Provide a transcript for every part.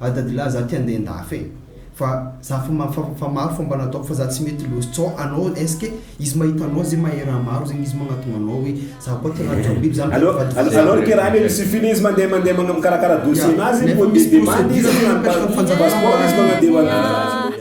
Ah dadilahy za ty andeha andafy e! Fa za fa ma fa maro fomba nataoko fa za tsy mety loose tsao anao est-ce que izy mahita anao zay mahay raha maro zegny izy magnatonga anao hoe za koa tena tiako biby zany Aleo aleo ny kirainy aloha suffit-ny izy mandeha mandeha magna mikarakara dossier nazy nefa misy procedure ny manao passeport izy magnandevo azy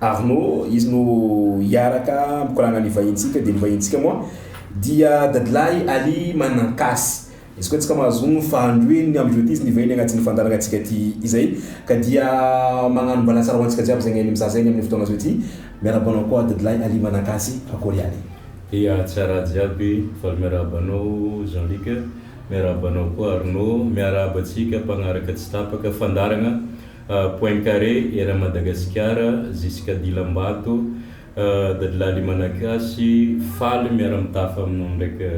Arnaud, izy no hiaraka mikoragna ny vahintsika dia ny vahintsika moa dia dadilahy Ali Manankasy. Izy koa tsika mahazoa ny fahandroeny amindreo ty izy nivahiny agnatin'ny fandaharagna antsika ty izay ka dia magnano mbalatsara ho antsika jiaby zegny mizaha zegny amin'ny fotoagna zao ty. Miarahaba anao koa dadilahy Ali Manankasy, akôry ihany? Ia tsara jiaby, faly miarahaba anao Jean Luc, miarahaba anao koa Arnaud, miarahaba antsika mpagnaraka tsy tapaka fandaharagna. Poincaré era Madagasikara Zisika Dilambato Dadilahy Limanakasy faly miara-mitafa aminao ndraika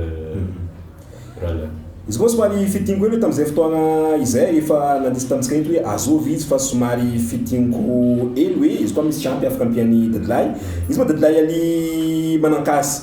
rahalahy. Izy koa somary fitiniko hely hoe tamin'izay fotoana izay efa nandrisy tamintsika eto hoe azovy izy fa somary fitiniko hely hoe izy koa misy ampy afaka ampian'i Dadilahy. Izy moa Dadilahy Aly Manankasy.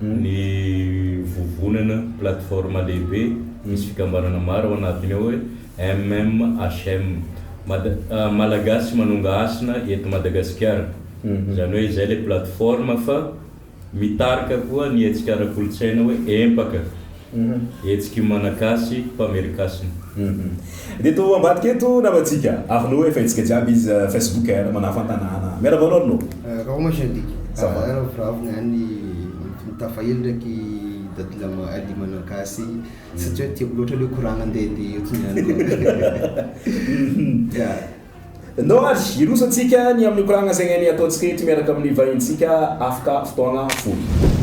ny vovonana, plateforme, lehibe misy fikambanana maro ao anatiny ao hoe MMHM, Mada, Malagasy Manonga Hasina eto Madagasikara. Izany hoe izay ilay plateforme fa mitarika koa ny hetsika ara-kolontsaina hoe Empaka. Hetsiky Malagasy Mpamerikasina. Dia eto ambadika eto namantsika Arnaud efa hetsika jiaby izy Facebook eh manà fantanàna. Miarahaba anao Arnaud. Raha homage andiky. Ça va. Raha vravy ihany tafaely ndraiky Dadi Lama Ali Managasy satria tiako loatra le koragna ndeha dia eto niany koa. No ary hirosotsika ny amin'ny koragna zay ainy ataontsika eto miaraka amin'ny vahintsika afaka fotoagna fohy.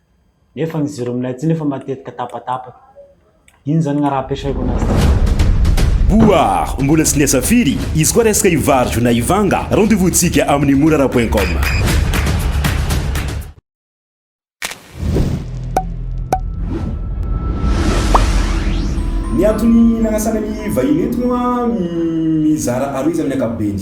Nefa ny jiro aminay aty nefa matetika tapatapaka. Ino zany ngah raha ampiasaiko anazy ty? Boar, mbola tsy niasa firy? Izy koa resaka hivarjo na hivanga? Rendez-vous tsika amin'ny morara point com. Ny antony nanasana ny vahiny eto moa mizara aroa izy amin'ny ankapobeny.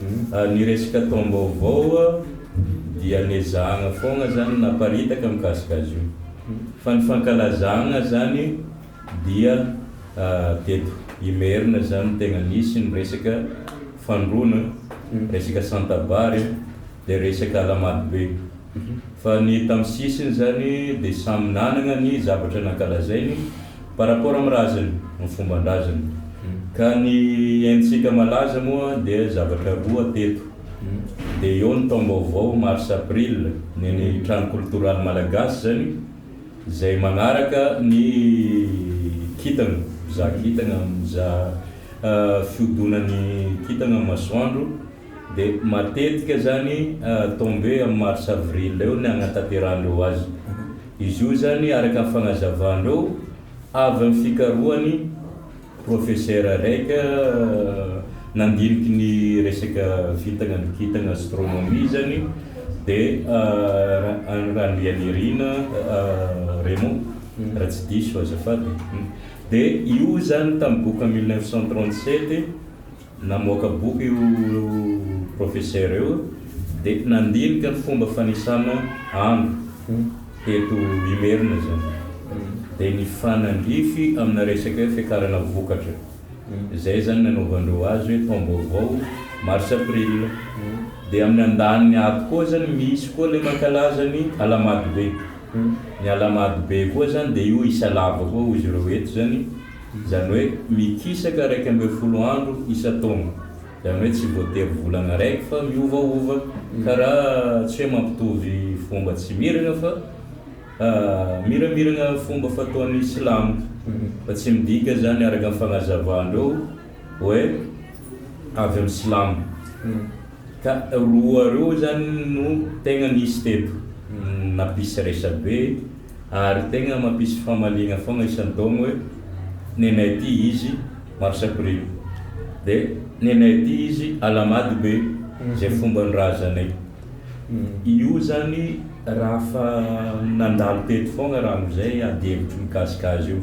Ny resaka taom-baovao dia nezahana foana izany ny naparitaka mikasika azy io. Fa ny fankalazana izany dia teto Imerina izany no tena nisy ny resaka fandroana, resaka santabary dia resaka ala-marobe. Fa ny tamin'ny sisiny izany dia samy nanana ny zavatra nankalazainy. par rapport amin'ny raziny, ny fomban-draziny. Ka ny haintsika malaza moa dia zavatra roa teto, dia eo ny taom-baovao mars april ny an'ny trano koltoraly malagasy izany, izay manaraka ny kintana, mpizaha kintana, mizaha fihodonan'ny kintana amin'ny masoandro, Dia matetika izany tombe amin'ny mars avril eo ny agnatanterahandreo azy. Izy io izany araka ny fagnazavan-dreo avy amin'ny fikarohany professeur raika nandiniky ny resaka vintagna ny kintagna astronomie izany dia Randrianirina Raymond raha tsy diso azafady. Dia io izany tamin'ny boka mille neuf cent trente sept Namoaka boky io Profesera io dia nandinika ny fomba fanisana andro teto Imerina izany dia nifanandrify amina resaka hoe fiakarana vokatra. Izay izany nanaovandreo azy hoe taom-baovao, Mars-April. Dia amin'ny andaniny ato koa izany misy koa ilay mankalaza ny Alahamadobe. Ny Alahamadobe koa izany dia io isa lava koa hoy izy ireo eto izany. Izany hoe mikisaka iraika ambin'ny folo andro isan-taona. Izany hoe tsy voatery volana raiky fa miovaova ka raha tsy hoe mampitovy fomba tsy miragna fa miramiragna fomba fataon'ny silamo fa tsy midika izany araka ny fagnazavan-dreo hoe avy amin'ny silamo ka roa reo zany no tegna nisy teto nampisy resabe ary tegna mampisy famaliagna fogna isan-taogno hoe nenay aty izy mars aprily de nenay aty izy alahamady be zay fomban-drazanay io zany raha fa nandalo teto fogna raha amizay adihevitro mikasika azy io.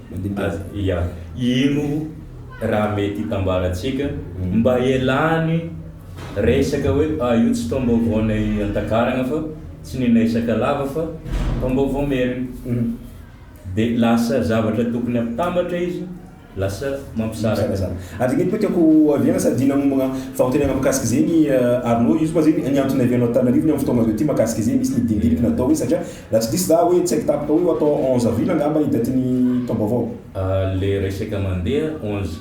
Mandinika azy. Ia. Ino raha mety hitambarantsika mba hialany resaka hoe ah io tsy taom-baovaonay an-takaragna fa tsy ninay Sakalava fa taom-baovao Merina. Dia lasa zavatra tokony hampitambatra izy, lasa mampisaraka ny. Ary ny koa tiako ohaviana sady nanombagna fagnontenana mikasika zegny Arnaud, io koa zegny ny antony niavianao Antananarivo ny amin'ny fotoagna azo ity makasika zegny misy ny dingidiniky natao hoe satria Raha tsy diso za oe tsaiko tampoka oe ho atao onze avril angamba i date ny taom-baovao. Le resaka mandeha onze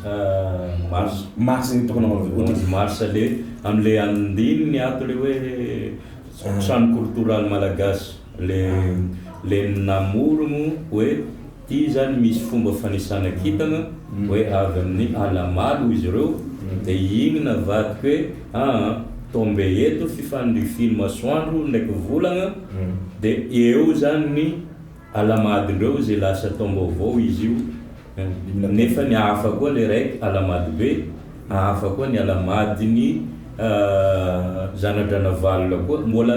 mars. Mars zegny tokony hanaovana vote. Onze mars le amle andininy ato le hoe trano kolotoraly malagasy le le namorogno hoe. Ity izany misy fomba fanisana kintana hoe avy amin'ny ala malo hoy izy ireo dia iny navadika hoe aa tombe eto fifanirifian'ny masoandro ndraiky volagna dia eo izany ny alamadindreo izay lasa taom-baovao izy io nefa ny hafa koa ilay raiky alamadybe hafa koa ny alamadin'ny zana-dranavalona koa mbola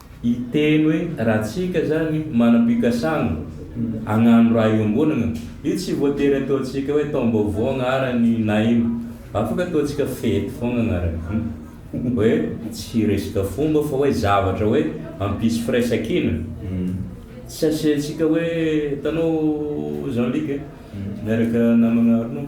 Hiteny hoe raha tsika zany manam-pikasana agnano raha iombonagna, io tsy voatery ataontsika hoe taom-baovao agnarany na ino. Afaka ataontsika fety fogna agnarany. Hoe tsy resaka fomba fa hoe zavatra hoe hampisy firaisan-kina. Tsy asiantsika hoe, hitanao Jean Luc e, miaraka namagna Arnaud.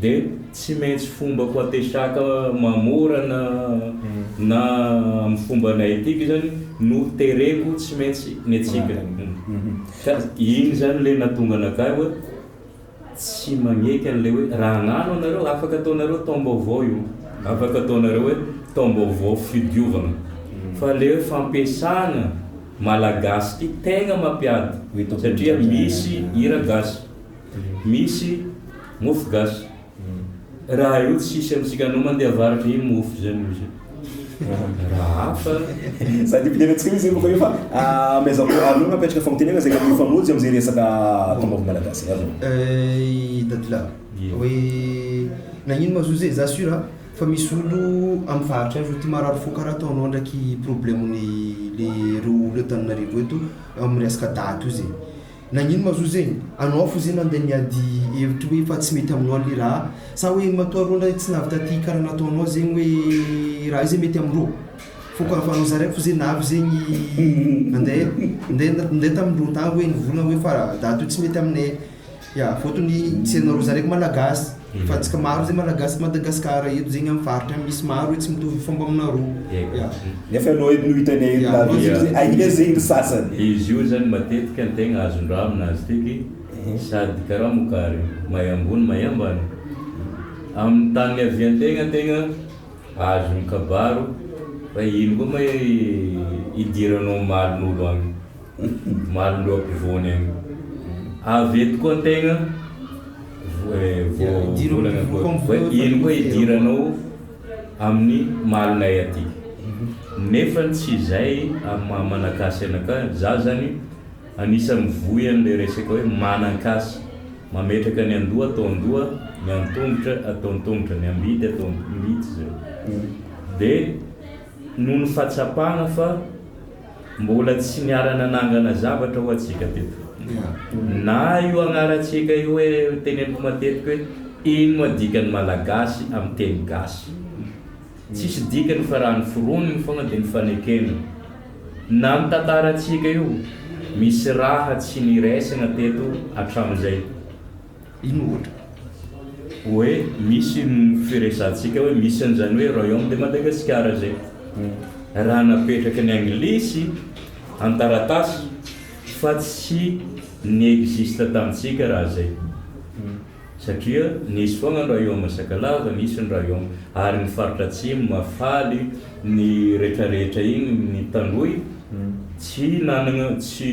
Dia tsy maintsy fomba fampiasaka mamorana na amin'ny fomba naetika izany no tereko tsy maintsy ny antsika. Ka iny izany ilay nahatonga anakahy hoe tsy magneky an'ilay hoe raha agnano anareo afaka ataonareo taom-baovao io, afaka ataonareo hoe taom-baovao fidiovagna. Fa ilay hoe fampiasagna malagasy ity tegna mampiady satria misy hira gasy. Misy mofo gasy raha eo tsisy amintsika anao mandeha avarotra io mofo zay no izy raha hafa Za de mpidera antsika izy fa io fa maison mère alou no apetraka famitenena zay mety mifamojo amzay resaka taom-baovao malagasy avy eo. Ey dadilahy Ie. hoe nagnino ma zo zay za sur a fa misy olo am faritra any zo ty marary fo karaha ataonao ndraiky problème ny le reo olo eto Antananarivo eto am resaka daty io zay Nagnino ma zo zegny? Anao fo ze nandeha niady hevitry hoe efa tsy mety aminao le raha? Sa hoe matoa rô ndray tsy navy taty kara nataonao zegny hoe raha io ze mety amindrô? Foko avy anao zaraiko fo ze navy zegny nandeha nandeha nandeha tamindrô tagny hoe nivolagna hoe fa daty io tsy mety aminay. Ya, fotony tsy anarô zaraiko malagasy. Fa tsika maro zay malagasy Madagascar eto zegny am faritra an misy maro e tsy mitovy fomba aminareo ya. Nefa ianao eto no hitanay eto na dia izy hoe aiza zegny ry sasany. Dia izy io zany matetika ny tegna azon-draha aminazy tiky sady karaha mokary may ambony may ambany amin'ny tany niavian-tegna tegna azo ny kabaro fa ino koa may idiranao omaly n'olo agny. Marindreo ampivoany eo. Avy eto koa tegna ino koa idiranao amin'ny malinay aty. Nefa tsy izay amin'ny maha Malagasy anakah, za zany anisany mivoy an'le resaka hoe manan-kasy, mametraka ny an-doha atao an-doha, ny an-tongotra atao an-tongotra, ny am-bidy atao am-bidy zay. De noho ny fahatsapana fa. Mbola tsy niara-nanangana zavatra ho'a tsika teto. Na io agnarantsika io hoe, teneniko matetiky hoe, ino moa dikan'ny Malagasy amin'ny teny gasy? Tsisy dikany fa raha noforoniny foana dia nofanekena. Na ny tantarantsika io, misy raha tsy niraisana teto hatramin'izay. Ino ohatra? Hoe misy ny firesahantsika hoe misy an'izany hoe Royaume de Madagasikara izay. Raha napetraky ny Anglisy an-taratasy fa tsy ni-existe tamintsika raha izay. Satria nisy foana ny Royaume Sakalava, nisy ny Royaume ary ny faritra Atsimo, Mahafaly, ny retraretra iny, ny Tanohy, tsy nanana, tsy.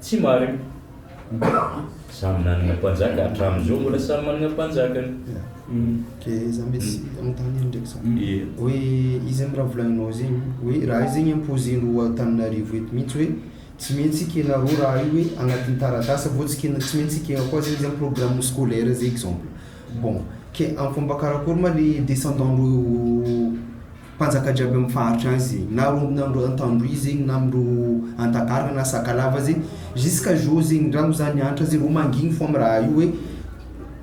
Tsy marina. Samy nanana mpanjaka hatramin'izao mbola samy manana mpanjakany. Dia za mety tsy anontany hely ndraiky za. Hoe izy zany raha volagninao zegny hoe raha io zegny imposer ny roi Antananarivo eto mihitsy hoe tsy maintsy ekenareo raha io hoe agnatin'ny taratasy avao tsy ekena tsy maintsy ekena koa zegny zany programme scolaire zay exemple. Bon, ke am'fomba karakory ma le descendant-ndreo Mpanjaka jiaby amin'ny faritry any ze na rondona am antandroy zegny na am ro antakarana na sakalava ze jusqu'à jour zegny ndra ho za niantra ze ho mangigny fô am raha io hoe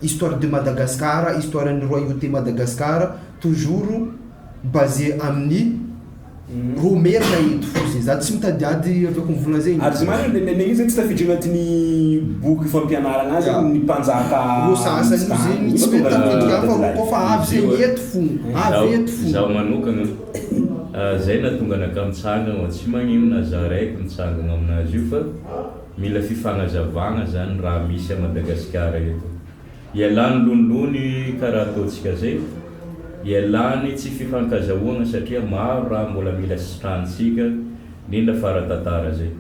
histoire de Madagascar histoire ny royauté Madagascar toujours basé amin'ny ro merina eto fô ze za tsy mitadiady avy akony vola zegny. Ary ze marigny de nenegny io zegny tsy tafiditra agnatin'ny boky fampianaragna any zegny ny mpanjaka misy tany efa tonga any anaty tany. Izaho manokana, izay nahatonga anakahy mitsangana ao Atsimagnino na izaho iray eto mitsangana ao amin'azy io fa mila fifanazavana izany raha misy à Madagasikara eto. Ialany lonilony ka raha ataontsika izay fa ialany tsy fifankazahoana satria maro raha mbola mila sitranintsika indrindra fa ara-tantara izay.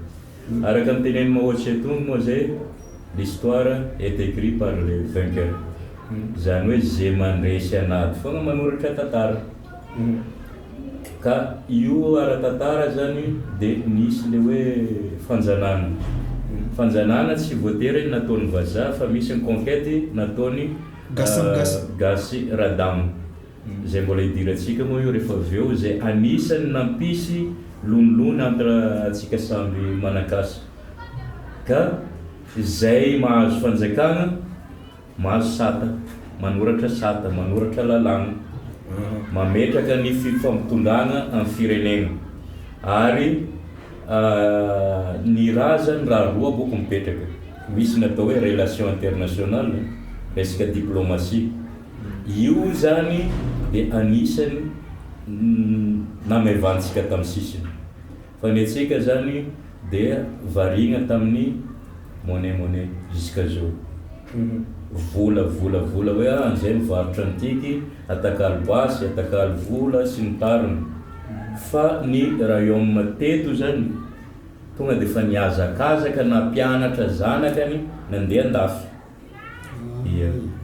Araka ny tenenin'i Mao Tse Tung moa izay, l'histoire est écrit par les vainqueurs, izany hoe izay mandresy an'ady foana manoratra tantara. Ka io ara-tantara izany dia nisy ilay hoe fanjanahana. Fanjanahana tsy voatery nataon'ny vazaha fa misy ny conquête nataon'i Gasy Radama. Izay mbola hidirantsika moa io rehefa avy eo izay anisan'ny nampisy lonilony entre antsika samby manankasa. Ka izay mahazo fanjakana, mahazo sata, manoratra sata, manoratra lalàna, mametraka ny fifampitondràna amin'ny firenena. Ary ny rà izany rà roa akoako mipetraka. Misy ny atao hoe relation internationale, resaka diplomatie. Io izany dia anisany namaivantsika tamin'ny sisiny. Fa ny antsika izany dia variana tamin'ny monnaie monnaie jusqu'à zao. Vola vola vola hoe ah an'izay mivarotra an'tiky, atakalo basy, atakalo vola sy ny tariny. Fa ny rayomme teto izany tonga dia efa nihazakazaka nampianatra zanakany nandeha an-dafy.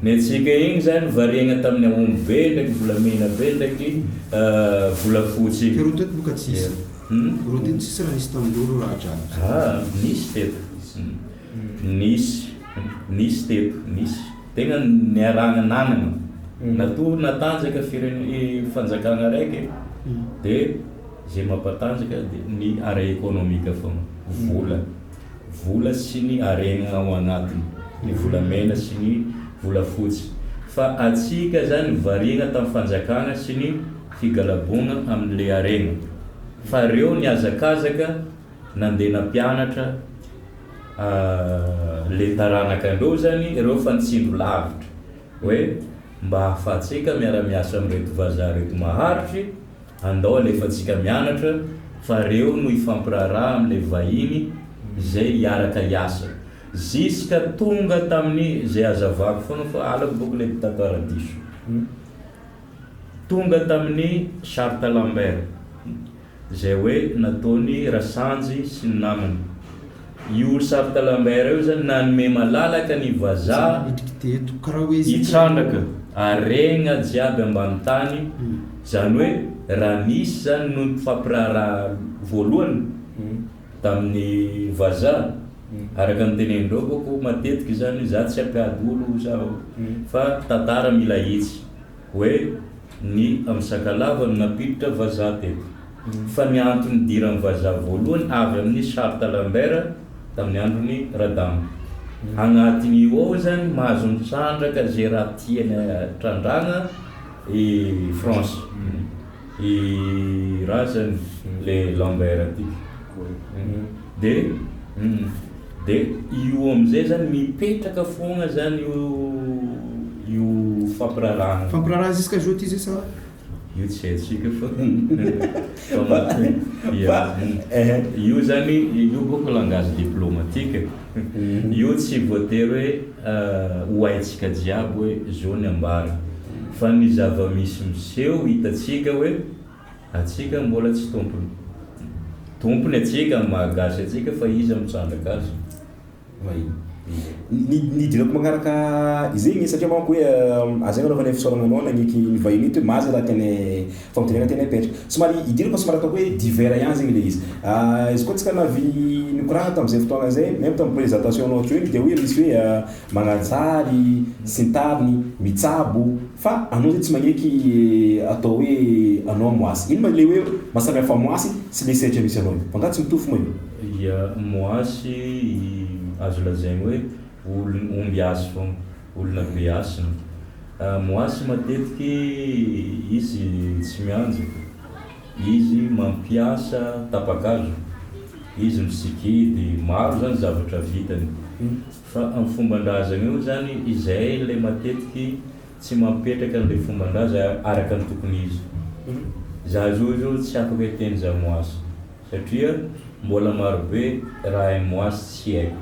Ny antsika igny zany variagna tamin'ny aomby be ndraiky volamena be ndraiky volafotsy igny. Ka reo teto boka tsisy. Humm. Reo teto tsisy raha nisy tamindreo reo raha jiaby. Haa nisy teto. Nisy. Nisy teto. Nisy. Tegna niarahana nanagna. Natory natanjaka firene- fanjakagna araiky dia ze mampatanjaka dia ny ara-ekonomika fôgna. Vola. vola sy ny harena ao anatiny, ny volamena sy ny volafotsy, fa hatsiaka izany variana tamin'ny fanjakana sy ny figalaboana amin'ilay harena, fa ireo nihazakazaka nandeha nampianatra ilay taranaka andreo izany ireo fa nitsindro lavitra hoe mba ahafahantsika miara-miasa amin'ireto vazaha ireto maharitry, Andao alefantsika mianatra fa reo no hifampiraharaha amle vahiny zay hiaraka hiasa. Ziska tonga taminy zay azavako foana fa alako boky le tato aradiso. Tonga taminy charte Lambert zay hoe nataony Rasanjy sy ny namany. Io Charte Lambert io zany nanome malalaka ny vazaha hitrandraka aregna jiaby ambany tany, zany hoe raha nisy zany noho ny mpifampiraharaha voalohany tamin'ny vazaha, araka ny tenenin-draofako matetika izany, za tsy hampiady olo zaho fa tantara mila hitsy. Hoe ny amin'ny Sakalava no nampiditra vazaha teto. Fa ny antony nidiran'ny vazaha voalohany avy amin'ny Charte Lambert tamin'ny andron'i Radama. Agnatin'io ao izany mahazo mitrandraka izay raha tiany trandrahana i France. I razany le lambert ty de de io amizay zany mipetraka fogna zany io io fampirarahana. Fampiraraha jusqu'à jeudi izay sa? Io tsy haintsika fa fa io zany io bôka langage diplomatique io tsy voatery hoe. Ho haintsika jiaby hoe zo ny ambara. Fa ny zava-misy miseho hitantsika hoe atsika mbola tsy tompony. Tompony atsika amin'ny maha gasy atsika fa iza mitrandraka azy? Mahia. Ny dinako magnaraka izegny satria manko hoe aza agnanaovana fisaoragna anao nagneky ny vahiny eto hoe maza raha tianay Fampidirana tena epetra. Somary idirako somary ataoko hoe divers ihany zegny le izy. Izy koa antsika navy nikoragna tamzay fotoagna zay, même tam présentation nao joiny de hoe misy hoe magnantsary sy ny tariny, mitsabo, fa anao zay tsy magneky atao hoe anao moasy. Ino ma le hoe maha samy hafa moasy sy le sehatra misy anao io? Fa nga tsy mitovy moa io? Ya, moasy azo lazaigny hoe olo ombiasy fôgna. Olona be hasina. Moasy matetiky izy tsy mianjy. Izy mampiasa tapa-kazo. Izy misikidy. Maro zany zavatra vitany. Fa am fomban-drazana eo zany izay le matetiky tsy mampetraka anle fomban-draza araka ny tokony izy. Za zao izao tsy afaka hiteny za moasy satria mbola maro be raha hain'i moasy tsy haiko.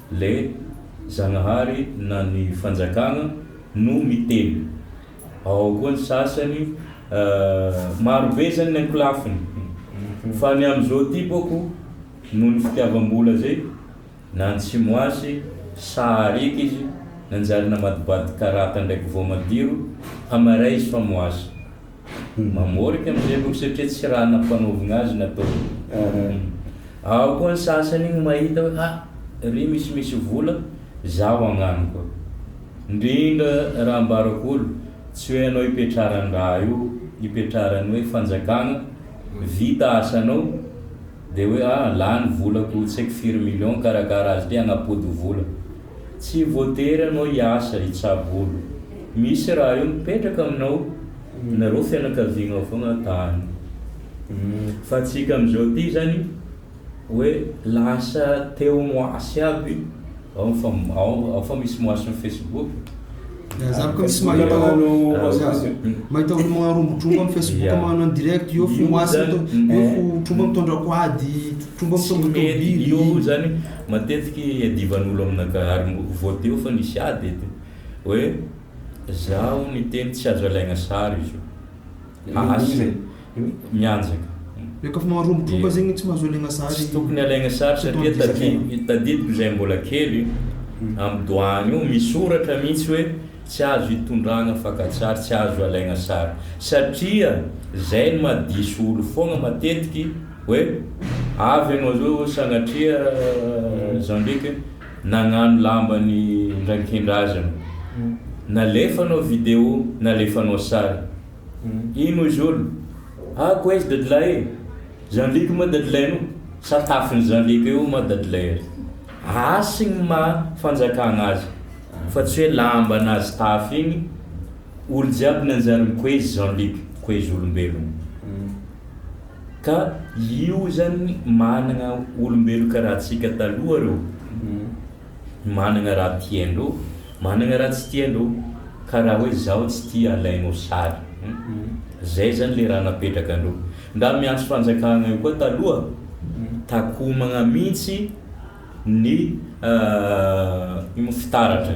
Le Zagnahary na ny fanjakagna no miteny. Ao koa ny sasany maro be zany ny ankolafiny fa ny amzao ty boko noho ny fitiavambola zay na ny tsy moasy sary eky izy nanjary namadibady karata ndraiky voamadiro hamaray izy fa moasy Ny mamorika amin'izay loko satria tsy raha nampanaovina azy no ataony. Ao koa ny sasany igny mahita hoe ha ry misy misy vola zaho agnano koa. Ndrindra raha ambarako olo tsy hoe anao ipetraran-draha io ipetraran'ny hoe fanjakagna vita asanao de hoe ah lany volako tsy haiko firy million karakara azy ty agnapody vola. Tsy voatery anao hiasa hitsabo olo. Misy raha io mipetraka aminao, nareo fianakaviagnao fogna tany. Fa antsika amizao ty zany hoe lasa teo moasy aby ao fa ao fa misy moasy am Facebook. Za ko misy mahita mahita olo magnarombo tromba am Facebook magnano an direct eo fo moasy eo fo tromba mitondrako ady, tromba mitondrako tobily. Matetika iadivan'olo amina ka ary mbo voadio fa nisy ady eto hoe zaho niteny tsy azo alaigna sary izy io asa mianjaka tsy tokony alaigna sary satria tadidiko zay mbola kely am doany io misoratra mitsy hoe tsy azo itondragna fakatsary tsy azo alaigna sary satria zay no maha diso olo fogna matetiky Hoe avy ianao zao sanatria Jean-Luc nagnano lambany ndrainkendrazana. Nalefanao video, nalefanao sary. Ino izy olo? Ah koa izy dadilahy e! Jean-Luc moa dadilahinao? Sa tafin'i Jean-Luc eo moa dadilahy azy? Asy gny maha fanjakagna azy fa tsy hoe lamba anazy tafy igny olo jiaby nanjary mikoezy Jean-Luc, koezy olombelogno. Ka io zany managna olombelo karaha antsika taloha reo, managna raha tiandreo, managna raha tsy tiandreo, karaha hoe zaho tsy tia alainao sary, zay zany le raha napetraka andreo. Ndra miantso fanjakagna io koa taloha, takomagna mintsy ny fitaratra.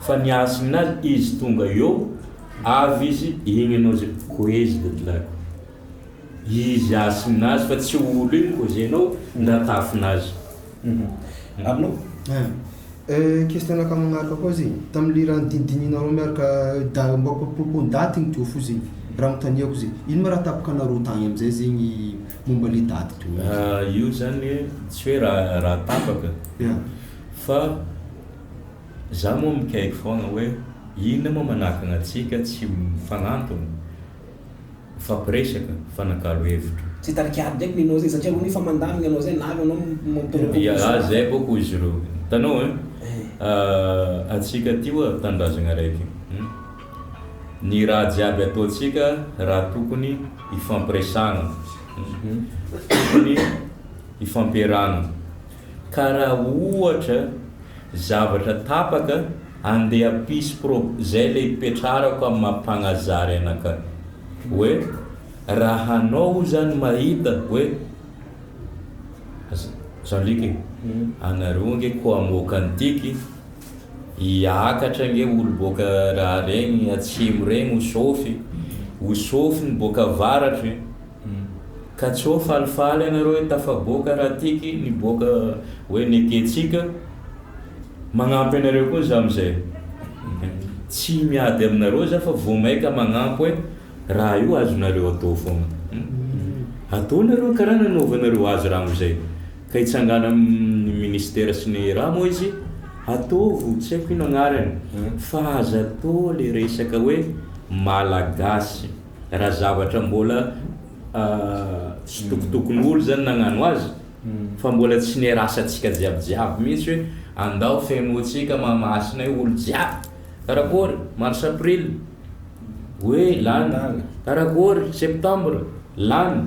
Fa ny hasina azy izy tonga eo avy izy igny enao zay koezy de blague izy hasina azy fa tsy olo igny ko zay enao ndra tafina azy. Arnaud, question-naka magnaraka koa zay, tamin'ny lirany dinidininareo miaraka da mba propos ndaty igny toa fo zay, raha mitaniako zay, ino ma raha tapaka anareo tagny amizay zegny momba le daty toy igny? Io zany tsy hoe raha tapaka fa. Za moa mikaiky foana hoe inona moa manakana antsika tsy mifanantona, mifampiresaka fa nakalo hevitra. Tsy hitarika ady ndray Nino zay satria anao efa mandany ny anao zay na avy anao mampitombo kokoa izany. Ialahy zay avao koa izy ireo hitanao e! Antsika aty oa tanindrazagna araiky hum! Ny raha jiaby ataontsika raha tokony hifampiresahana hum! Tokony hifampiarahana. ka raha ohatra zavatra tapaka andeha ampisy pro zay le ipetrarako am maha mpagnazary anaka hoe raha hanao o zany mahita hoe aza zany ndreky e anareo ange ko amoaka ny tiky hiakatra ange olo boaka raha regny atsimo regny ho sofy ho sofy ny boaka avaratry Hum. Ka tsy ho falifaly ianareo hoe tafaboaka raha tiky ny boaka hoe nekentsika? Magnampy anareo koa za amizay. Tsy miady aminareo za fa vo maika magnampy hoe raha io azonareo atao foana. Hum. Atao nareo ny karaha nanaovanareo azy raha amizay. Ka hitsangana amin'ny ministera sy ny raha moa izy? Ataovy, tsy haiko ino agnarany. Fa aza atao le resaka hoe malagasy. Raha zavatra mbola tsitokotokon'olo zany nagnano azy fa mbola tsy nerasantsika jiaby jiaby mintsy hoe andao fenoantsika Mahamasina io olo jiaby karakôry mars april hoe lany karakôry septembre lany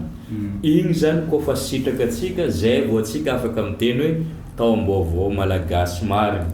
igny zany kô fa sitraka tsika zay vao tsika afaka miteny hoe taom-baovao malagasy marigny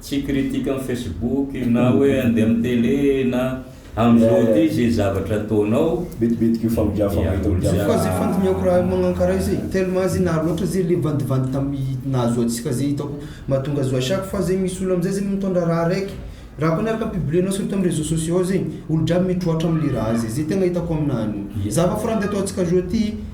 Tsy critique am facebook na hoe andeha am tele na am zao ty ze zavatra ataonao, Betibetiky io famigafana io eto Tsy koa zay fandinihako raha magnankara io zay tellement zay naharo loatra zay le vandivandy tamy nahazo antsika zay hitako mahatonga azy à chaque fois zay misy olo amizay zay mitondra raha raiky raha koa ny araka ny publier-nao surtout amy réseaux sociaux ao zay olo jiaby mitroatra amle raha zay, zay tegna hitako aminany, zava-forandy ataontsika zao ty.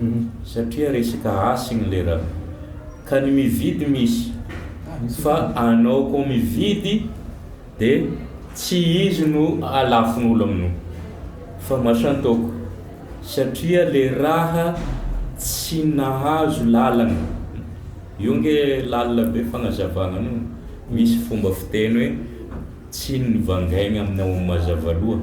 Hum satria resaka hasiny le ra ka ny mividy misy fa anao ko mividy de tsy izy no alafon'olo aminao fa masantoako satria le raha tsy nahazo lalana io nge lalina be fagnazavagna anio misy fomba fiteny hoe tsy nivangaigna aminao mazava loha.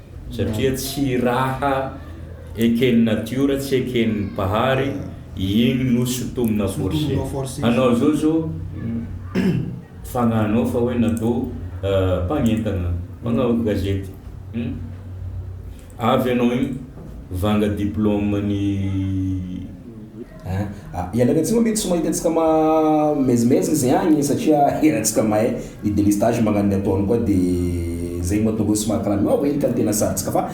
Satria tsy raha eken'ny natiora, tsy eken'ny Mpahary, iny no sintomina forcer anao zao zao fagnahinao fa hoe natao mpagnentana, mpagnaovy gazety hum avy anao iny vanga diplôme ny. Hein. Ah ialahy atsimo mety tsy mahita antsika ma mezimezina izy agny satria iarahantsika mahay ny delestage magnano ny ataony koa de zay mahatonga hoe somary karaha miova hely qualité na sarintsika fa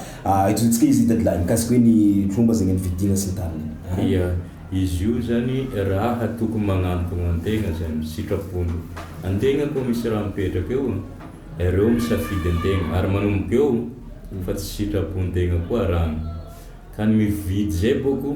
ajozotsika izy dadilahy mikasika hoe ny tromba zegny ny fidiana sy ny tariny hein. Ia, izy io zany raha tokony magnantogno antegna zany, sitrapony. Antegna koa misy raha mipetraka eo, ireo misafidy antegna ary manomboka eo fa tsy sitrapontegna koa raha. Ka ny mividy zay bôko.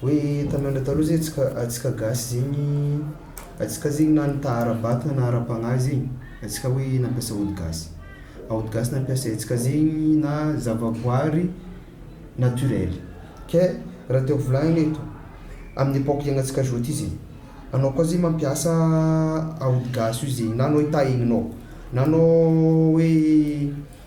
Hoe tamin'andro taloha zay atsika atsika gasy zegny atsika zegny na nitaha ara-batana na ara-pagnahy zegny atsika hoe nampiasa ody gasy a ody gasy nampiasaintsika zegny na zavaboary naturel ke raha tiako volagnina eto amin'ny epoque iaignantsika zao ty zegny anao koa zegny mampiasa aody gasy io zegny na anao hitaha egninao na anao hoe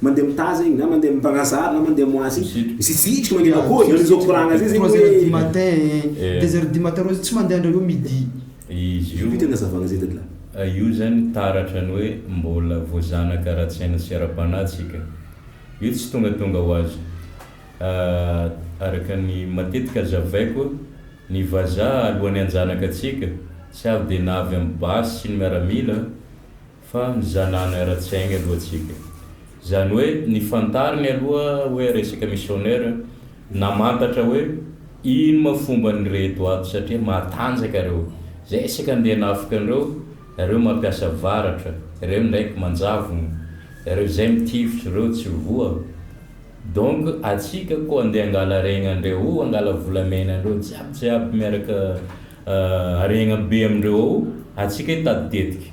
Mandeha mitaha zegny na mandeha Mpagnasary na mandeha Moisy misitritry mandeha daholo zany zao koragna zay zegny hoe trois heures du matin deux heures du matin reo tsy mandeha ndray hoe midi izy io Vita ny hazavagna zay dadalah. Io zany taratra ny hoe mbola voazanaka ara-tsaina sy ara-panahy tsika. Io tsy tongatonga ho azy. Araka ny matetika hazavaiko, ny vazaha alohan'ny hanjanaka antsika, tsy avy dia na avy amin'ny basy sy ny miaramila, fa ny zanany ara-tsaigny aloha tsika. Zany hoe ny fantarigny aloha hoe resaka missionnaire namantatra hoe ino ma fomba ny reto ato satria matanjaka reo zay isaka ndeha nafika anreo reo mampiasa varatra reo ndraiky manjavogno reo zay mitifitry reo tsy voa donc atsika ko andeha angala regna andreo ao angala volamena andreo jiaby jiaby miaraka regna be amindreo ao atsika hitady tetiky.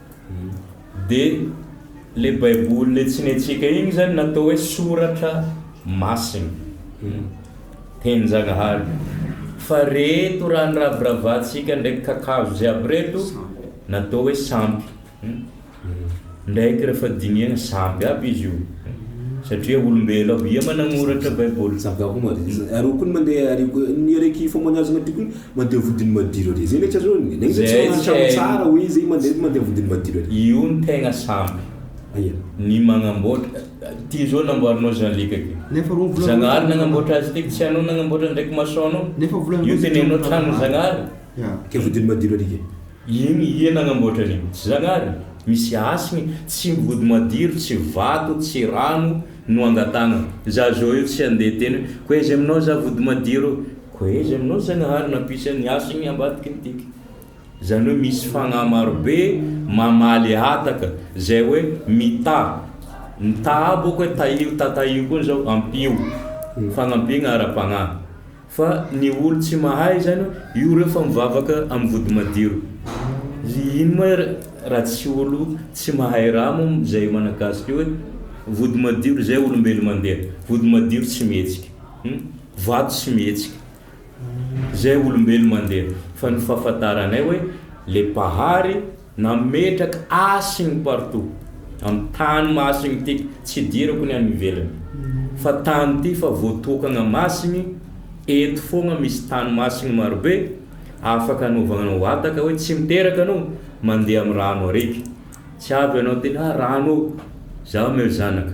De le baiboly le tsy netsika igny zany natao hoe soratra masina teninjagnahary fa reto raha niraviravatsika ndraiky kakazo jiaby reto natao hoe sampy ndraiky refa dinihana sampy aby izy io satria olombelo aby ia managnoratra baiboly Zava-mahadomelina. Ary koa ny mandeha ary koa ny araiky fômôniazagna ty koa Mandeha vodiny madiro ary. Zay ndraika zao ny. Zay zao tsy manana trano tsara oe zay mandeha mandeha vodiny madiro ary. Io ny tegna sampy. Aia. Ny magnamboatra. Ty zao namboarinao Jean Luc ty. Nefa rony vola. Zagnahary nagnamboatra azy ty ka tsy anao nagnamboatra ndraiky maçon nao. Nefa vola. Io tenenao trano Zagnahary. Ka vodiny madiro ary ke. Ino ia nagnamboatra an'io. Tsy Zagnahary. Misy asigny. Tsy vody madiro, tsy vato, tsy rano no angatahagna. Za zao io tsy andeha teny oe ko aiza aminao za vody madiro. Koa izy aminao Zagnahary nampisy an'i Hasigny ambadiky ny tiky. Izany hoe misy fagnahy marobe mamaly hataka izay hoe mità. Ny tà bôka hoe tahio, tatahio koa izao, ampio. Fagnampiagna ara-pagnahy. Fa ny olo tsy mahay izany, io reo fa mivavaka amin'ny vody madiro. Ino ma raha tsy olo tsy mahay raha mo izay managasika hoe vody madiro izay olombelo mandeha, vody madiro tsy mihetsika. Ny vato tsy mihetsika. Zay olombelo mandeha. Fa ny fahafataranay hoe le Mpahary nametraka hasiny partout. Am tany masiny ty, tsy idirako ny any ivelany. Fa tany ty fa voatokagna masiny, eto fogna misy tany masiny marobe afaka anaovagna wataka hoe tsy miteraka anao mandeha am rano araiky. Tsy avy anao ty na rano ô. Zaho meo zanaka.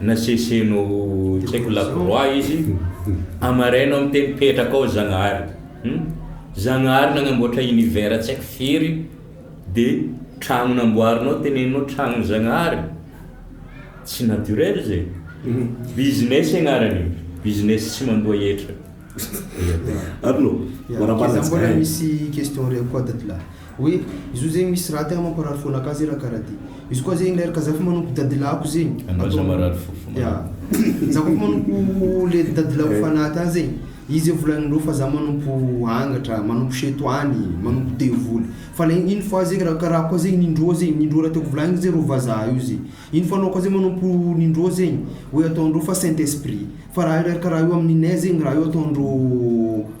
Naseseno tsy haiko laboroà izy, amaraina ao miteny petraka ao Zagnahary hum, Zagnahary nagnamboatra univers tsy haiko firy de tragno namboarinao teneninao tragnon'i Zagnahary, tsy naturel zay, business agnarany io, business tsy mandoa hetra. Arnaud, manambara antsika. Mbola misy question reo koa tatolahy. Oe izo zegny misy raty aho mamparary fo anakahy ze raha kara ty izy koa zegny ler ka za fa manompo dadilahiko zegny Andraza marary fo fa ya za koa fa manompo le dadilahiko fanaty any zegny izy ze volaninreo fa za manompo angatra manompo setoany manompo devoly fa le iny fois zegny raha kara koa zegny indroa zegny ny indroa raha tiako volagniny ze reo vazaha io ze iny fa anao koa ze manompo ny indroa zegny oe ataondreo fa saint esprit fa raha io ler ka raha io aminy ninay zegny raha io ataondreo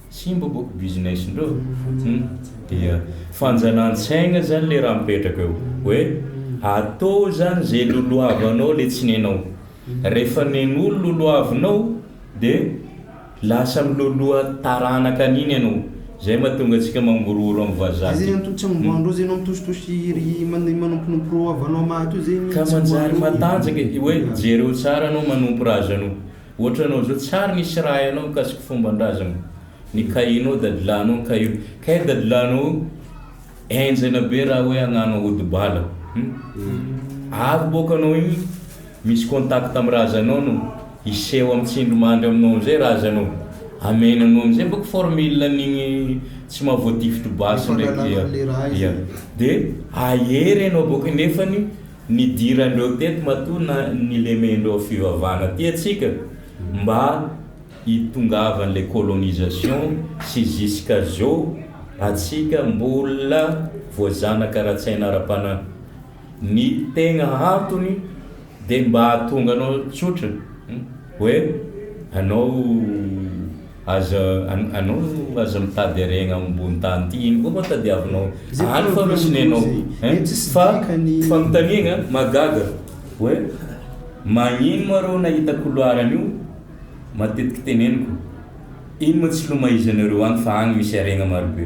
Simba boko business ndreo hum dia fanjanantsaigna zany le raha mipetraka eo hoe atao zany ze lolohavanao le tsy nenao refa nenolo lolohavinao de lasa miloloha taranaka aniny anao zay matonga atsika mangorohoro am vazaha ty ka manjary matanjaka hoe jereo tsara anao manompo razanao. Ohatra anao zao tsary nisy raha hainao mikasiky fomban-drazana ny kahinao dadilahinao ny kahio kay dadilahinao io enjana be raha hoe agnano ody bala hum avy boka anao igny misy contact amy razanao no hiseho amy tsindry mandry aminao amizay razanao amena anao amizay boka formule anigny tsy maha voatifitry basy ndraiky ya ya de ahery anao boka nefany Nidiran-dreo teto matoa na nilemen-dreo fivavahana aty atsika mba hitongavan le colonisation sy jusqu'à zeo atsika mbola voazanaka ara-tsaina ara-panahy. Ny tegna antony de mba ahatonga anao tsotra hoe anao. Aza anao aza mitady aregna ambony tany ity ino koa moa tadiavinao any fa misy nenao hein fa fanontaniagna mahagaga hoe magnino moa reo nahita couloir an'io matetiky teneniko ino moa tsy lomahizanareo any fa agny misy aregna marobe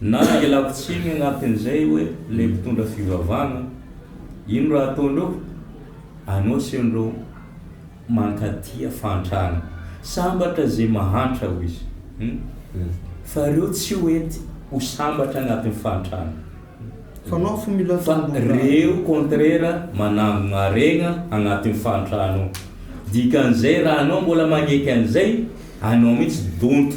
Na ialako tsiny agnatin'izay hoe ilay mpitondra fivavahana, ino raha ataonao? Anao sy ireo mankatia fahantrana. Sambatra izay mahantra, hoy izy, fa ireo tsy ho enty ho sambatra agnatin'ny fahantrana. Fa ireo kontrera manangona haregna agnatin'ny fahantrana ao. Dikan'izay, raha anao mbola magneky an'izay, anao mihitsy donto.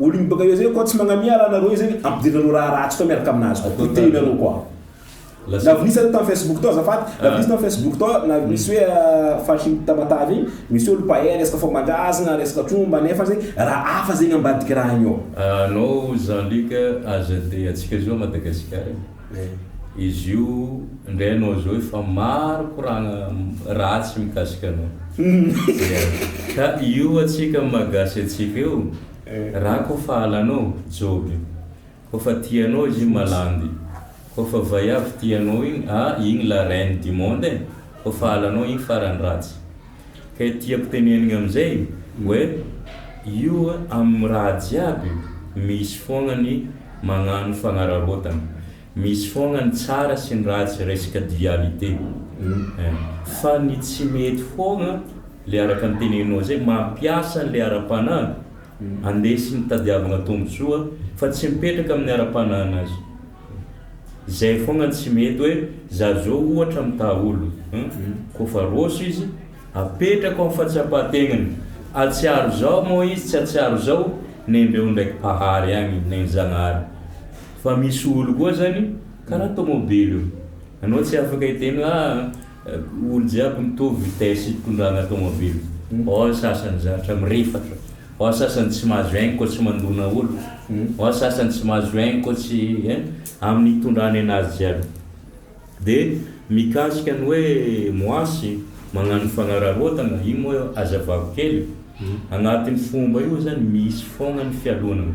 Olo ny baka usa koa tsy magnamia raha nareo izy zany ampidirinareo raha ratsy koa miaraka aminazy koa potehinareo koa lavinisa reo tam facebook tao azafady lavinisa tam facebook tao na misy hoe faritry ny tamatave igny misy olo pahay resaka fombandrazagna resaka tromba nefa zay raha hafa zegny ambadiky raha igny ao. Anao Jean Luc aza dia atsika zao Madagasikara e. Izy io indray anao zao efa maro koragna ratsy mikasika anao. Ka io atsika am maha gasy atsika eo, ra ko fa halanao, joby. Ko fa tia anao izy iny malandy. Ko fa vaiavy tia anao iny, ah iny la reine du monde e. Ko fa halanao iny farany ratsy. Kay tiako tenenigna amizay oe io am raha jiaby misy fogna ny magnano fagnararaotana, misy fogna ny tsara sy ny ratsy resaka dualité eh, fa ny tsy mety fogna le araka ny teneninao zay mampiasa anle arapanahy andesiny tadiavagna tombotsoa fa tsy mipetraka aminy arapanahinazy. Zay fogna ny tsy mety hoe za zao ohatra mitaha olo hum kofa roso izy apetrako am fahatsapahategnany atsiaro zao moa izy tsy atsiaro zao nendreo ndraiky mpahary agny neny zagnahary fa misy olo koa zany karaha tomobily io anao tsy afaka hitegno ah Olo jiaby mitovy vitesse hitondrana tomobile, ao ny sasany zatra mirefatra, ao ny sasany tsy mahazo aigny koa tsy mandona olo, ao ny sasany tsy mahazo aigny koa tsy hein, aminy hitondrany anazy jiaby. De mikasika ny hoe moasy magnano fagnararaotana, io moa azavako kely, agnatiny fomba io zany misy fogna ny fialonana,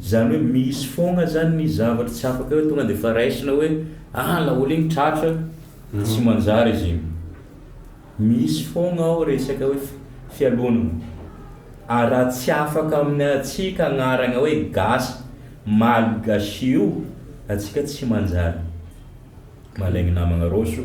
Izany hoe misy foagna zany ny zavatra tsy afaka hoe tonga dia efa raisina hoe ah laolo igny tratra tsy manjary izy igny. Misy foagna ao resaka hoe fialonana. Ary raha tsy afaka amin'ny antsika agnaragna hoe gasy, malgache io, antsika tsy manjary. Malaigny namagna Rossy o.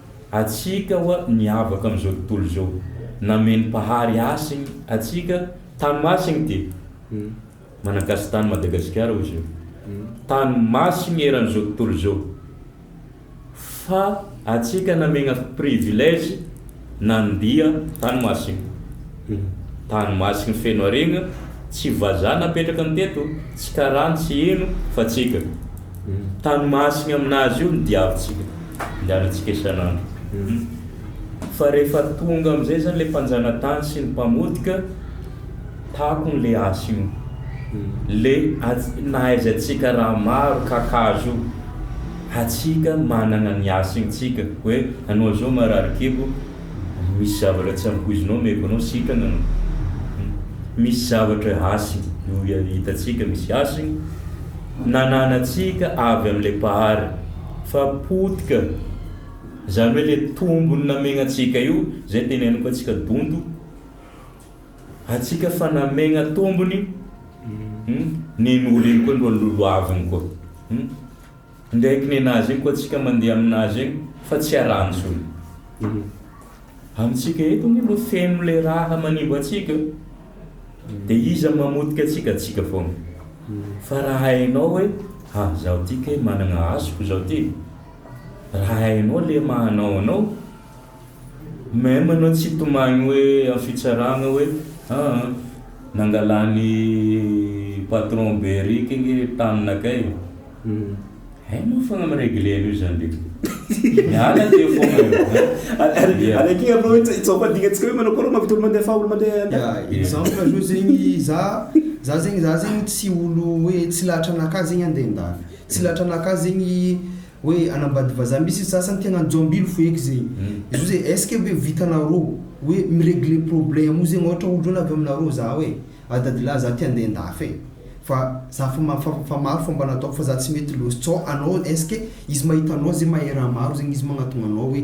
atsika oa miavaka am zao tontolo zao nameny mpahary asiny atsika tany masiny de manankasitany madagasikara ozy eo tany masiny eran zao tontolo zao fa atsika namegna privilege nandia tany masiny Tany Mahatsy ny Fenoariagna, tsy vazaha napetraka ny teto, tsy karana, tsy heno, fa tsika. Tany Mahatsy aminazy io ny diavintsika, andehanantsika isan'andro. Fa rehefa tonga amin'izay zany le mpanjanatany sy ny mpamotika, takony le asa io. Le nahaizantsika raha maro kakazo io, hatsika manana ny asintsika, hoe anao zao marary kibo, Misy zavatra tsy ampoizinao omeko anao sitrana an! Misy zavatra hasiny no hitantsika misy hasiny nananantsika avy amin'ilay Mpahary fa potika izany hoe ilay tombony namegna antsika io izay teneniko antsika donto antsika fa namegna tombony nen'olona iny koa ny lolohaviny koa. Ndeha hiponena azy eny koa tsika mandeha aminazy eny fa tsy arahantsony amintsika eto anie mba feno le raha manimba antsika de iza mamotika antsika antsika foana fa raha hainao hoe ha zaho ty kay managna hasiko zaho ty raha hainao le maha anao anao Même anao tsy hitomagny hoe amin'ny fitsaragna hoe aa nangalan'i patron Beric nge taminakay e! hay moa fa mi-regler an'io zany ndreky e! miala teo fogna eo an! Ary akia bro hitsaoka adingantsika hoe manao akôry mahavita olo mandeha fa olo mandeha an! Ya, exemple zao zegny za, za zegny, za zegny tsy olo hoe tsy lahatra anakahy zegny handeha an-dafy, tsy lahatra anakahy zegny Hoe anambady vazaha misy ny sasany tena anjambilo foheky zegny izo ze est ce que ve vitanarô hoe miregle problème io zegny ôhatra olo avy aminarô za hoe a dadilahy za ty andeha andafy e fa za fa ma fa fa maro fomba nataoko fa za tsy mety lôsy tsao anao est ce que izy mahita anao ze mahay raha maro zegny izy magnatogna anao hoe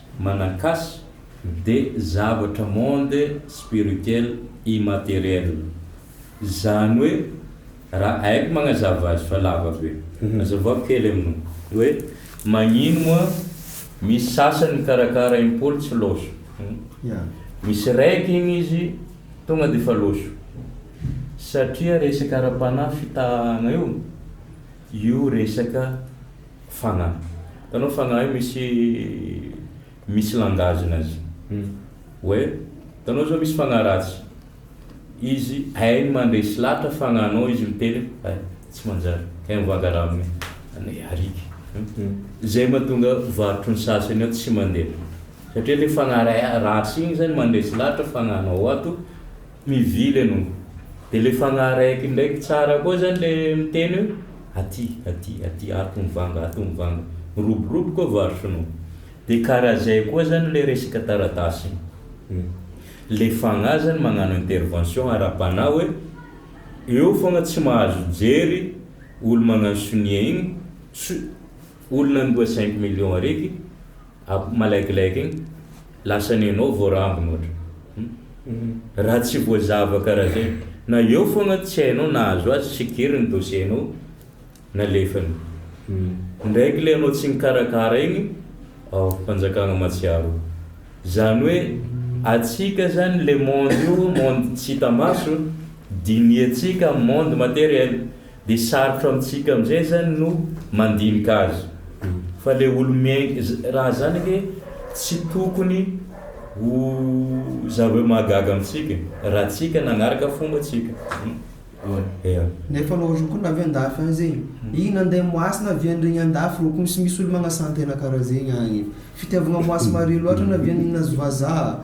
Manankasy de zavatra monde spirituel immatériel zany hoe ra aiko magnazava azy fa lava be azavao kely aminao hoe magnino moa misy sasany mikarakara impoly tsy loso misy raiky igny izy tonga defa loso satria resaka ara-panahy fitahagna io io resaka Fanahy. Hitanao fanahy io misy misy langage nazy. Hoe hitanao zao misy fanahy ratsy. Izy hainy mandresy lahatra fanahinao izy miteny hoe hay tsy manjary hay mivanga raha amin'ny anay ariaka. Zay mahatonga varotry ny sasany ao tsy mandeha. Satria le fanahy ratsy igny zany mandresy lahatra fanahinao ato. Mivily ianao. Dia ilay fanahy raiky ndraiky tsara koa izany ilay miteny hoe, aty, aty, aty, ato mivanga, ato mivanga. Miroboroboka vasinao. Dia karaha izay koa izany ilay resaka taratasy iny. Ilay fanahy izany magnano intervention ara-panahy hoe, eo foana tsy mahazo mijery olo magnano sonia iny, olona andoha cinq millions ariky, Akoho malaikilaiky igny lasa nenao voarambiny ohatra hum raha tsy voazava karaha zay na eo fogna tsy hainao nahazo azy sikiry ny dossier nao nalefany ndraiky le anao tsy nikarakara igny aoh fanjakagna matsiaro o zany hoe atsika zany le monde io monde tsy hita maso dinihatsika am monde materiel Dia sarotra amintsika amin'izay izany no mandinika azy fa ilay olo-miaina raha izany anie tsy tokony ho zavatra mahagaga amintsika raha tsika nanaraka fomba tsika eh. Nefa anao roa koa navy andafy any zegny ih nandeha moasy naviandregny andafy rô ko misy misy olo magnasan-tegna karaha zegny agny fitiavagna moasy mare loatra navian'ny nazy vazah.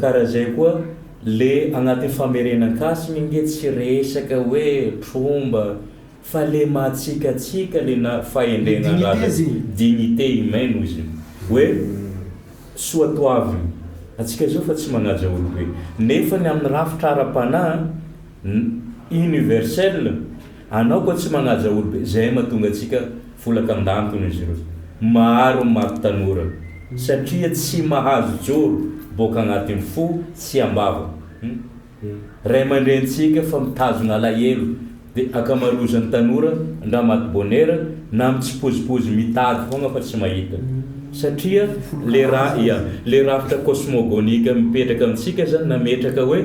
Ka raha zay koa le agnaty famerenan-kasy minge tsy resaka hoe tromba fa le mahatsikatsika le na fahendren'andraza e, dignité humaine hoy izy hoe soa toavina atsika zao fa tsy magnaja olo be nefa ny amin'ny rafitra ara-panahy, Ny universel anao ko tsy manaja olo be zay matonga antsika folaka andantony izy ireo maro ny maty tanora satria tsy mahazo joro boka agnatiny fo tsy ambava ny ray amandreny tsika fa mitazona alahelo de akamarozany tanora ndra maty bonera na mitsipozipozy mitady fogna fa tsy mahita satria le ra ia le rafitra cosmogonique mipetraka amintsika zany nametraka hoe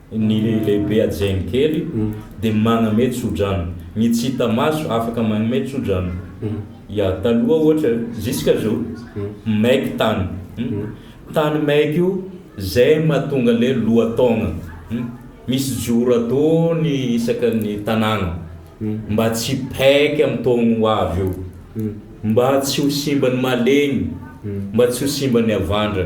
Ny lehibe hajain' ny kely dia maname tso-drano. Ny tsy hita maso afaka manome tso-drano. Ya, taloha ohatra, jusqu'à zao, maiky tany. Tany maiky io, zay mahatonga le lohataogna. Misy joro ataony isaka ny tanàgna mba tsy hipaiky am taogno ho avy eo. Mba tsy ho simba ny mahalegny, mba tsy ho simba ny havandra.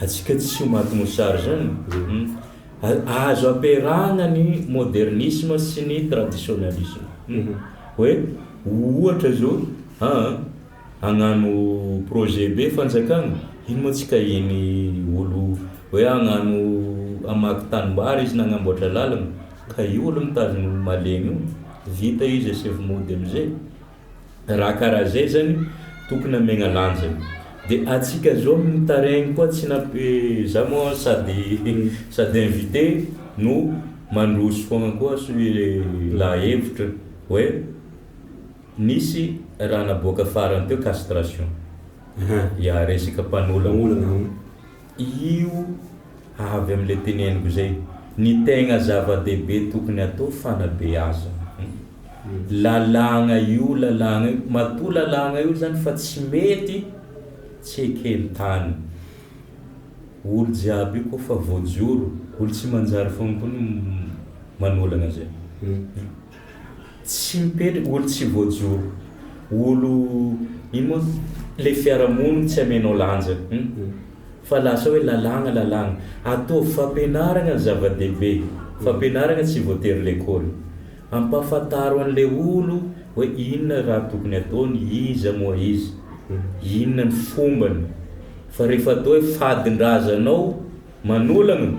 Antsika tsy ho maty mosary zany e! Azo ampiarahana ny modernisme sy ny traditionalisme. Hoe ohatra zao aa hagnano projet be fanjakana, ino moa tsy kahian'ny olo hoe hagnano hamaky tanimbary izy na hagnamboatra lalana, kahia olo mitazona olo malemy io, vita izy asevo mody amizay. Raha karaha zay zany tokony amegna lanjany. De atsika zao amin'ny tareigny koa tsy na za moa sady sady invité no mandroso foagna koa soe la hevitra hoe nisy raha naboaka farany teo castration. Aha. Ya resaka mpanolana. Io avy amin'ilay teneniko izay, ny tegna zava-dehibe tokony atao fanabeazana. Lalàgna io lalàgna io, matoa lalàgna io zany fa tsy mety tsy eken-tany. Olo jiaby io koa fa voajoro, olo tsy manjary fogna koa no manolagna zay. Tsy mipetraka, olo tsy voajoro, olo ino moa, le fiarahamonina tsy amenao lanja hum fa lasa hoe lalàgna lalàgna, ataovy fampianaragna ny zava-dehibe, fampianaragna tsy voatery lekôly, ampafantaro an'le olo hoe inona raha tokony ataony, iza moa izy, inona ny fombany, fa rehefa atao hoe fadin-drazanao manolagna,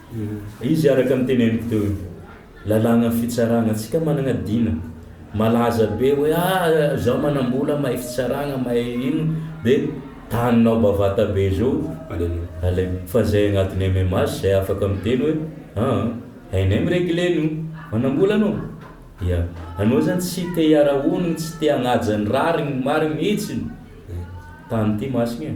Izy araka ny teneniko teo io. Lalàgnan'ny fitsaragna antsika managna dina. Malaza be hoe ah zaho manambola mahay fitsaragna mahay ino dia taninao bavata be zao aleo fa zay agnatiny MMH zay afaka miteny hoe aa hainay miregle an'io manambola anao ya anao zany tsy te hiara honogno tsy te hagnaja ny rariny ny marigny mihitsiny tany ty masina e.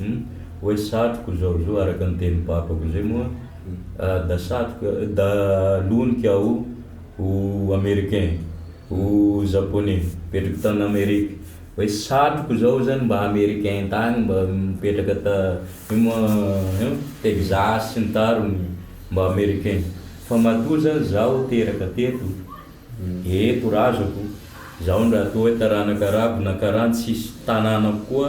Hum oe satriko zao zo araka ny teny babako zay moa da satriko da loniko aho ho americain ho japonais mipetraka tany amerique oe satriko zao zany mba americain tany mba mipetraka ta ino moa hein texas sy ny tariny mba americain fa matoa zany zaho teraka teto eto razako zaho ndra toa oe taranaka arabo na karantsy tsisy tananako koa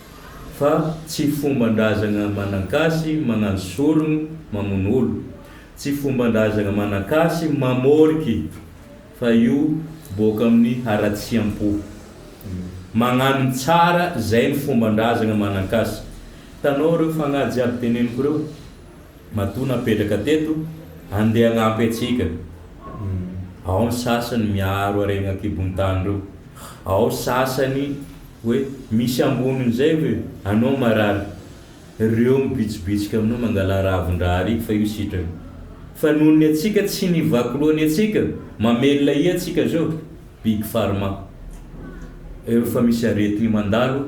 fa tsy fomban-drazagna Manankasy magnano sorogno mamono olo, tsy fomban-drazagna Manankasy mamôriky fa io bôka amin'ny haratsiam-po. Magnano ny tsara, zay ny fomban-drazagna Manankasy. Hitanao reo fagnahy jiaby teneniko reo? Matoa napetraka teto, andeha hanampy antsika. Ao ny sasany miaro harena an-kibon-tany ireo. Ao sasany hoe misy ambonin'izay ve anao marary? Ireo mibitsibitsika aminao mangala ravin-drahariky fa io sitrany. Fa noho ny antsika tsy nivaky loha ny antsika, mamelona ahy antsika izao, Big Pharma. Efa misy aretigny mandalo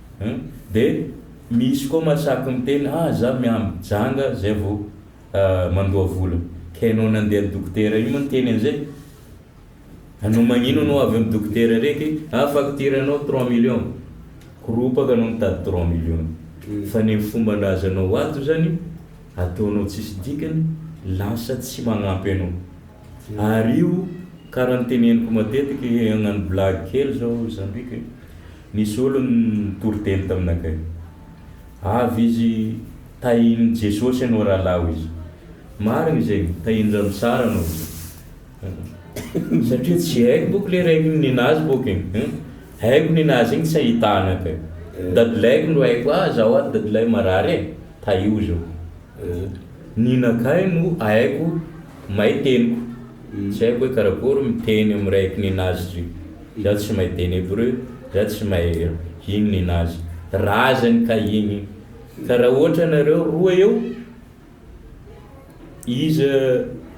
Hum dia misy koa masaky miteny ah za miamby janga zay vo mandoa vola ka enao nandeha ny dokotera io moa niteny anzay anao magnino anao avy am dokotera reky ah facture nao trois million koropaka anao mitady trois million fa ny fomban-drazanao ato zany ataonao tsisy dikany lasa tsy magnampy anao ary io kara niteneniko matetiky agnano blague kely zao zandriko e. Nisy olony nitory teny tamina kay. Avy izy tahin'i Jesosy anao rahalahy hoy izy. Marigny izegny, tahin-dRamisara anao hoy izy. Satria tsy haiko bôko le raiky nina azy bôko e. Haiko nina azy igny tsy ahitana kay. Dadilahiko ndro haiko, ah zaho ato dadilahiko marary e. Tahio zao. Ny nakay no aiko may teniko tsy aiko hoe karakory miteny am raiky ninazy zio za tsy may teny hebreu za tsy may hino ninazy razany ka igny ka ra oatra nareo roa eo iza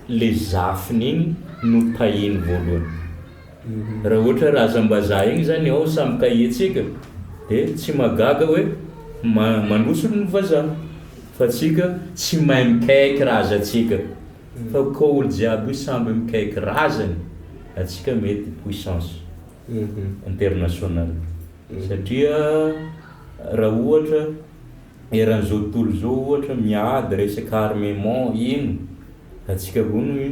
le zafiny igny no tahiny voalohany Raha ohatra razam-bazaha egny zany ao samy kahie tsika de tsy mahagaga hoe manosolo ny vazaha fa tsika tsy mahay mikaiky raza tsika fa ko olo jiaby io samby mikaiky razany atsika mety puissance international satria raha ohatra eran zao tontolo zao ohatra miady resaka armement ino atsika koa no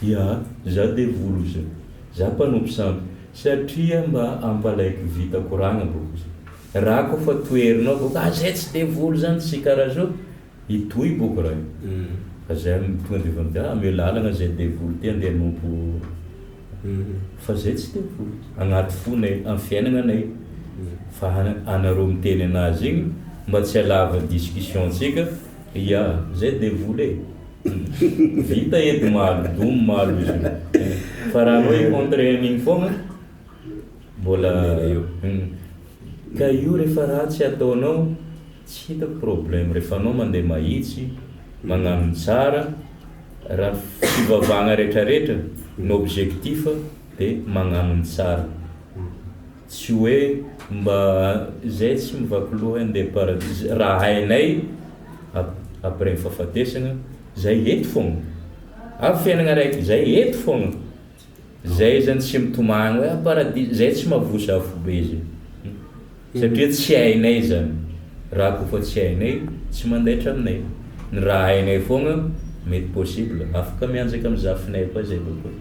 Dia za devoly ozy a! Za mpanompo sampy satria mba ampalaiko vita koragna boko ozy ra ko fa toherinao boko a zay tsy devoly zany tsy kara zo hitohy boko ra fa zay tonga de efa a ameo lalagna zay devoly ty andeha anompo fa zay tsy devoly agnaty fonay am fiainagna nay fa anareo miteny anazy igny mba tsy alava discussion tsika ia zay devoly e! Vita eto malo doum malo izy io. Fa raha anao i contre an'iny foagna mbola eo. Ka io rehefa ratsy ataonao tsy hitako problème rehefa anao mandeha mahitsy magnano ny tsara raha fivavahagna retraretra ny objectif dia magnano ny tsara. Tsy hoe mba izay tsy mivaky loha handeha paradisa raha hainay après ny fahafatesana, izay eto foagna. Ary fiainagna araiky izay eto foagna. Izay zany tsy mitomagny hoe ah paradisa, izay tsy mavosa afobe zay. Satria tsy hainay zany. Raha koa fa tsy hainay, tsy mandaitra aminay. Ny raha hainay foagna, mety possible, afaka mianjaka amin'ny zafinay koa izay bebe.